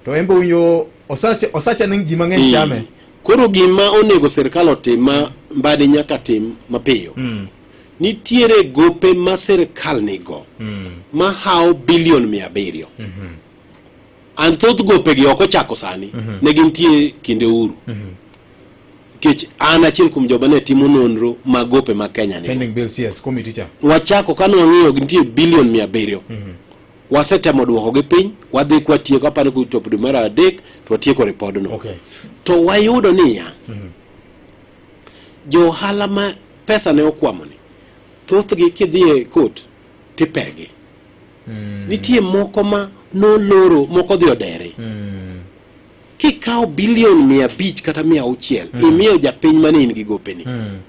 To embe unyo osache osache ning ji mang'eny chame. Koro gima onego sirkal otim ma mbadi nyaka tim mapiyo. Mm. Nitiere gope ma sirkal nigo mm. ma hawo bilion mia abiriyo. Mm -hmm. An thoth gopegi ok ochako sani. Mm -hmm. Ne gintie kinde uru. Mm -hmm nikech an achiel kuom joba ne timo nonro ma gope ma Kenya ni pending bills yes committee cha wachako kane wang'iyo nitie bilion mia abiriyo mm -hmm. wasetemo dwokogi piny wadhi kwatieko apani kuchopo dwe mar adek to watieko ripodno okay. to wayudo niya mm -hmm. jo ohala ma pesa ne okwamoni thothgi kidhie e kot tipegi mm. nitie moko ma noloro moko dhi odere mm. kikawo bilion mia abich kata mia auchiel mm. imiyo japiny mane in gi gopeni mm.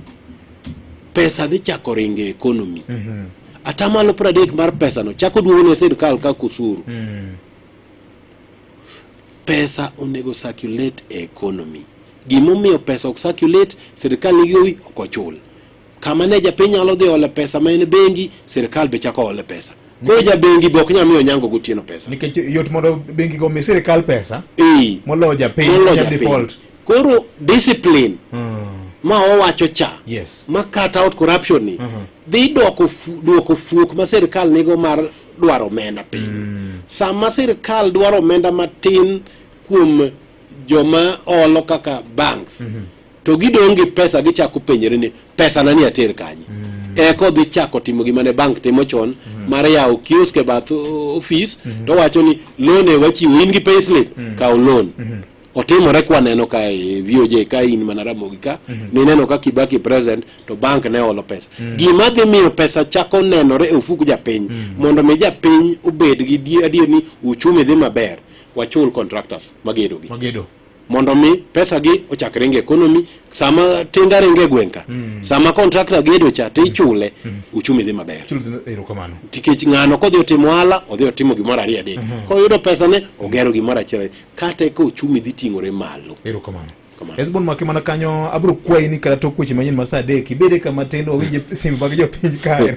pesa dhi chako ringo e ekonomi mm -hmm. atamalo pradek mar pesano chako duogo ne sirikal kaka usuru mm. pesa onego circulate e ekonomi gimomiyo pesa ok circulate sirikal nigi gowi ok ochul Kama ne japiny nyalo dhi ole pesa ma en bengi, sirkal be chako ole pesa. Koro ja bengi be ok nyal miyo Onyango gotieno pesa. Nikech yot mondo bengi go mi sirkal pesa. Eh. Moloyo japiny. Moloyo japiny. Koro discipline. Hmm ma owacho cha yes. ma cut out corruption ni uh mhm. -huh. dhi dwoko dwoko fuok ma sirkal nigo mar dwaro omenda piny mm. sama sirkal dwaro omenda matin kuom joma olo kaka banks mm -hmm. to gidong' gi pesa gichako penyere ni pesa na ni ater kanye mm. eko dhi chako timo gima ne bank timo chon mm. mar yawo kiosk e bath ofis mm -hmm. to wacho ni loan e wachiwo in gi payslip mm. kawo loan mm -hmm otimore kwa neno ka e VOJ ka in mana Ramogi ka mm -hmm. nineno ka Kibaki president to bank ne olo pesa mm -hmm. gima dhi miyo pesa chako nenore e ofuku japiny mm -hmm. mondo mi japiny obed gi adier ni uchumi dhi maber wachul contractors magedogi magedo mondo mi pesa gi ochak ringo e economy sama tinga ringo e gweng' ka mm. sama contractor gedo cha to ichule mm. mm. uchumi dhi maber erokamano tikech ng'ano kodhi otimo ohala odhi otimo gimoro ariyo adek mm-hmm. koyudo pesa ne ogero gimoro achiel kata eka uchumi dhi ting'ore malo erokamano Hezbon make mana kanyo abro kwayi ni kata tok weche manyien ma saa adek ibede kama tin wawinje simba gi jopiny kae